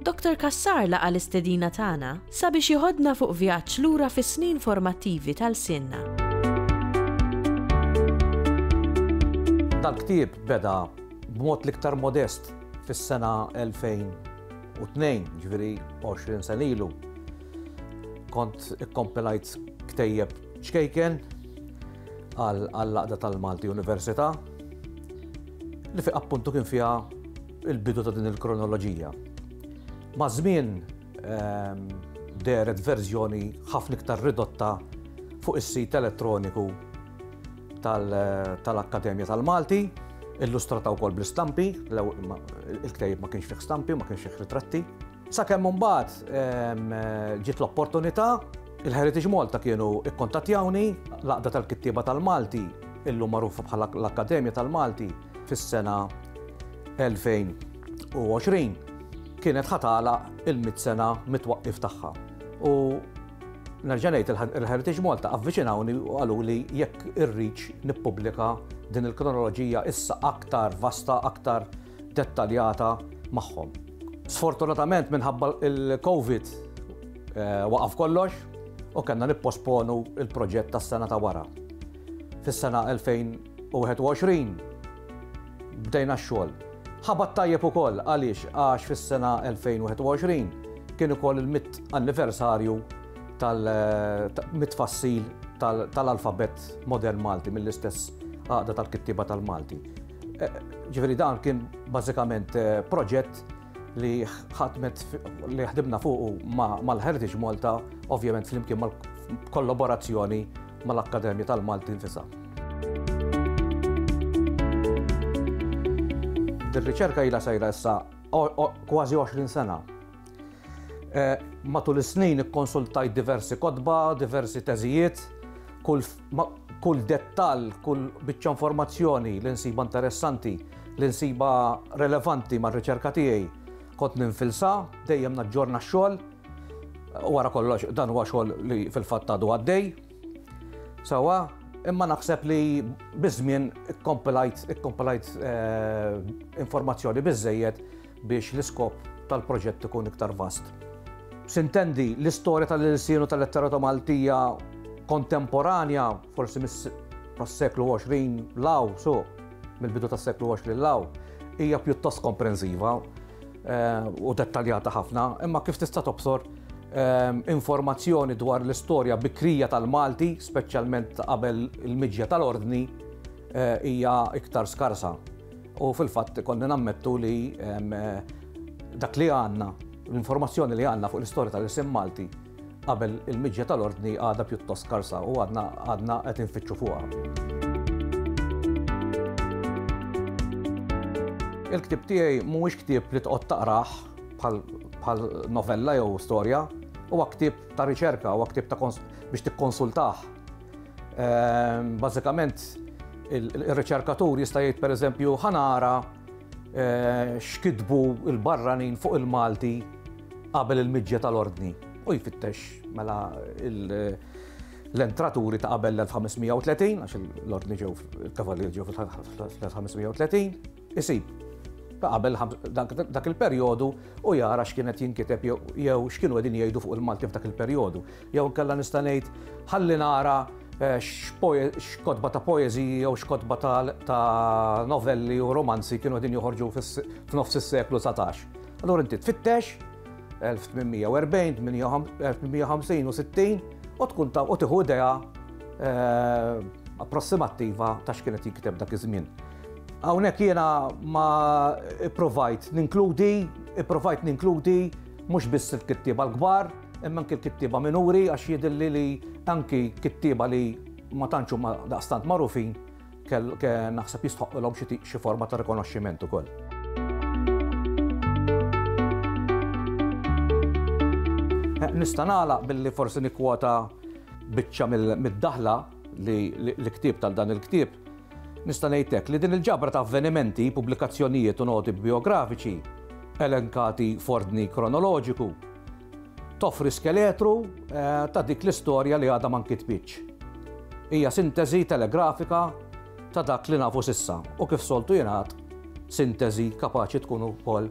Doctor Cassar laqa' l-istedina tagħna sabiex jeħodna fuq vjaġġ lura fis-snin formattivi ta' lsienna. Dal-ktieb beda b'mod l-iktar modest fis-sena 2002, jiġifieri 20 sena ilu. Kont ikkompilajt ktejjeb ċkejken għall-laqda tal-Malti Università li fi appuntu kien fiha il-bidu ta' din il-kronoloġija. Maż-żmien ehm, deret verżjoni ħafna iktar ridotta fuq is-sit elettroniku tal-Akkademja tal-Malti, illustrata wkoll bl-istampi, il-ktejb ma kienx fih stampi, ma kienx fih ritratti. Sakemm imbagħad ġiet l-opportunità, il-Heritage Malta kienu kkuntattjawni, l-Għaqda tal-Kittieba tal-Malti, illum magħrufa bħala l-Akkademja tal-Malti, fis-sena 2020 kienet ħa tagħlaq il-mitt sena mit-twaqqif tagħha. U nerġa' ngħid il-Heritage Malta avviċinawni u qaluli jekk irridx nippubblika din il-kronoloġija issa aktar vasta, aktar dettaljata magħhom. Sfortunatament minħabba l-Covid waqaf kollox u kellna nipposponu l-proġett tas-sena ta' wara. Fis-sena 2021 bdejna x-xogħol. Ħabat tajjeb ukoll għaliex għax fis-sena 2021 kien ukoll il-mitt anniversarju mit-tfassil tal-alfabett modern Malti mill-istess Għaqda tal-Kittieba tal-Malti. Ġifieri dan kien bażikament eh, proġett li ħadmet li ħdibna fuqu mal-Heritage Malta, ovvjament flimkien mal-kollaborazzjoni mal-Akkademja tal-Malti nfisa. Dir-riċerka jila sajra issa kważi 20 sena Eh, matul is-snin ikkonsultajt diversi kotba, diversi teżijiet, kull, kull dettal, kull biċċa informazzjoni li nsiba interessanti, li nsiba relevanti mar riċerka tiegħi, kont ninfilsa, dejjem naġġorna x-xogħol, wara kollox dan huwa xogħol li fil-fatt għadu għaddej. Sawa, imma naħseb li biżmien ikkompilajt ikkompilajt eh, informazzjoni biżejjed biex l-iskop tal-proġett ikun iktar vast. Sintendi, l-istorja tal-ilsien u tal-letterata Maltija kontemporanja, forsi mis-seklu 20 law, so, mill-bidu tas-seklu 20 law, hija pjuttost komprensiva eh, u dettaljata ħafna, imma kif tista' tobsor Ehm, informazzjoni dwar l-istorja bikrija tal-Malti, speċjalment qabel il-miġja tal-ordni, eh, hija iktar skarsa. U fil-fatt ikollna nammettu li dak li għandna, l-informazzjoni li għandna fuq l-istorja tal-isim Malti qabel il-miġja tal-Ordni għadha pjuttost skarsa u għadna qed infittxu fuqha. Il-ktieb tiegħi mhuwiex ktieb li tqgħod taqrah bħal novella jew storja, huwa ktieb ta' riċerka, huwa ktieb ta' biex tikkonsultah. Ehm, bażikament ir-riċerkatur jista' jgħid pereżempju ħanara eh, x'kitbu il-barranin fuq il-Malti qabel il-miġja tal-ordni u jfittex mela l-entraturi ta' qabel l-1530, għax l-ordni ġew, il-kavalli ġew fl-1530, isib ta' qabel dak il-perjodu u jara x'kien qed jinkiteb jew x'kienu qegħdin jgħidu fuq il-Malti f'dak il-perjodu. Jew inkella nista' ngħid ħalli nara eh, x'kotba ta' poeżiji jew x'kotba ta' novelli u romanzi kienu qegħdin joħorġu f'nofs is-seklu 19. Allura inti tfittex 1840, 1850 u 60 u tkun ta' u tiħu idea eh, approssimattiva ta' x'kienet jikteb dak iż-żmien. Hawnhekk jiena ma ipprovajt ninkludi, ipprovajt ninkludi mhux biss il-kittieba l-kbar, imma anki l-kittieba minuri għax jidhirli li anki kittieba li ma tantx huma daqstant magħrufin naħseb jistħoqqilhom xi forma ta' rikonoxximent ukoll. Nista' nagħlaq billi forsi nikkwota biċċa mid-daħla li l-ktieb tal-dan il-ktieb Nista' ngħidlek li din il-ġabra ta' avvenimenti, pubblikazzjonijiet u noti bijografiċi, elenkati f'ordni kronoloġiku, toffri skeletru ta' dik l-istorja li għadha ma nkitbitx. Hija sinteżi telegrafika ta' dak li nafu s'issa u kif soltu jingħad, sinteżi kapaċi tkun ukoll